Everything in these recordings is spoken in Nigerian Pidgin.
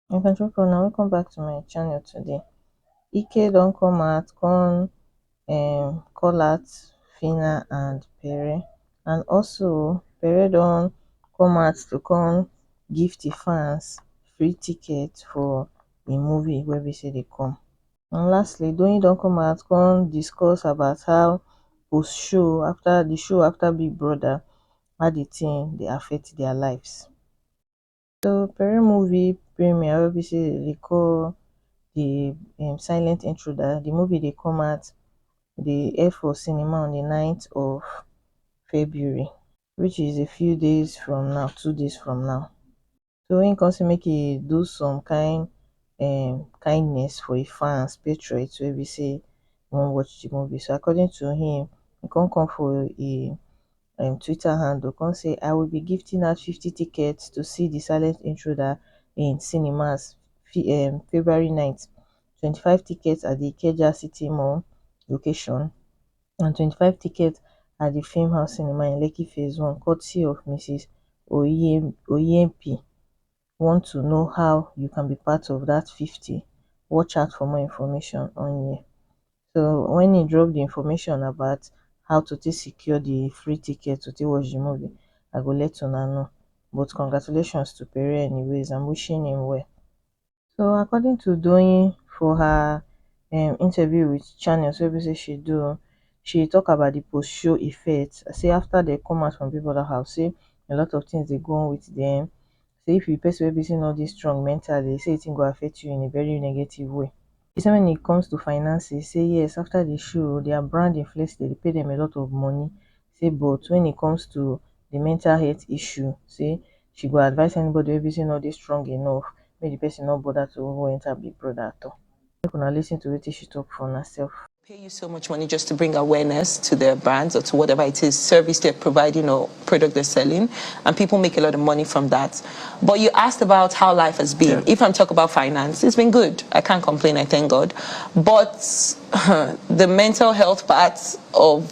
my country people now welcome back to my channel today ike don't come out come um call out fina and pere and also pere don't come out to come give the fans free tickets for the movie where we say they come and lastly doyin don come out come discuss about how post show after the show after big brother how the thing dey affect their lives so pere movie premier wey be say dey call the um, silent intruder the movie dey come out dey air for cinema on the 9th of february which is a few days from now two days from now so him come say make e do some kind um kindness for him fans patriots wey be say wan watch the movie so according to him he come come for him um twitter handle come say i will be gifting out fifty tickets to see the silent intruder in cinemas um february night twenty five tickets at the ikeja city mall location and twenty five tickets at di film house cinema in lekki phase one courtesy of mrs oyenepi want to know how you can be part of dat fifty watch out for more information on here so wen e drop di information about how to take secure di free ticket to take watch di movie i go let una know but congratulations to pere anyways and wishing him well so according to doyin for her um interview wit channels wey be say she do she tok about di post show effect say afta dem come out from big brother house say a lot of tins dey go on wit dem say if you be pesin wey be say you no dey strong mentally say di tin go affect you in a very negative way she say wen it comes to finances say yes afta di show dia brand influence dem dey pay dem a lot of money say but wen e comes to di mental health issue say she go advise anybody wey be say no dey strong enough make di pesin no bother to even enter big brother at all make una lis ten to wetin she talk for una self. pay you so much money just to bring awareness to their brands or to whatever it is service they're providing or product they're selling and people make a lot of money from that but you asked about how life has been yeah. if I'm talk about finance it's been good I can't complain I thank God but the mental health part of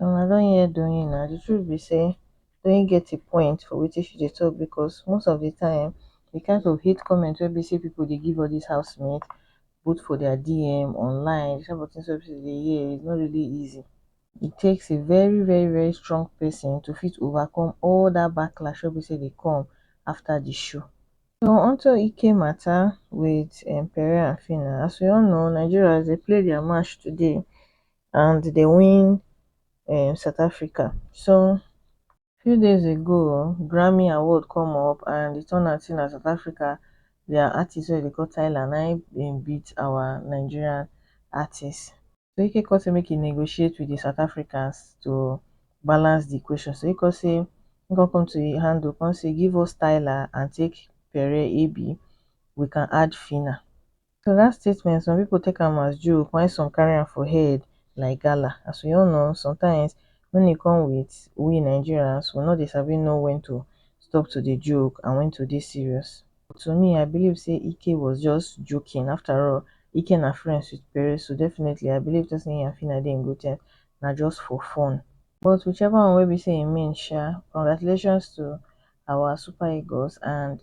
um i don hear doyin na the truth be say doyin get a point for wetin she dey talk because most of the time the kind of hate comment wey be say people dey give all this housemates both for their DM, online, the type of things wey be say you dey hear is not really easy. It takes a very very very strong person to fit overcome all that backlash wey be say dey come after the show. So onto Ike matter with um Pere and Phyna, as we all know Nigerians dey play their match today and dem win um south africa so few days ago grammy award come up and e turn out sey na south africa their artist wey dem dey call tyla na im im beat our nigerian artist so e come sey make e negotiate with the south africans to balance the equation so e come sey e come come to im handle come sey give us tyla and take pere ebi we can add phyna so dat statement some pipo take am as joke while some carry am for head like gala as we all know sometimes wen e come wit we nigerians we no dey sabi know wen to stop to dey joke and wen to dey serious but to me i believe say ike was just joking after all ike na friends wit pere so definitely i believe say him and phyna dey in good terms na just for fun but whichever one wey be say e mean sha congratulations to our super eagles and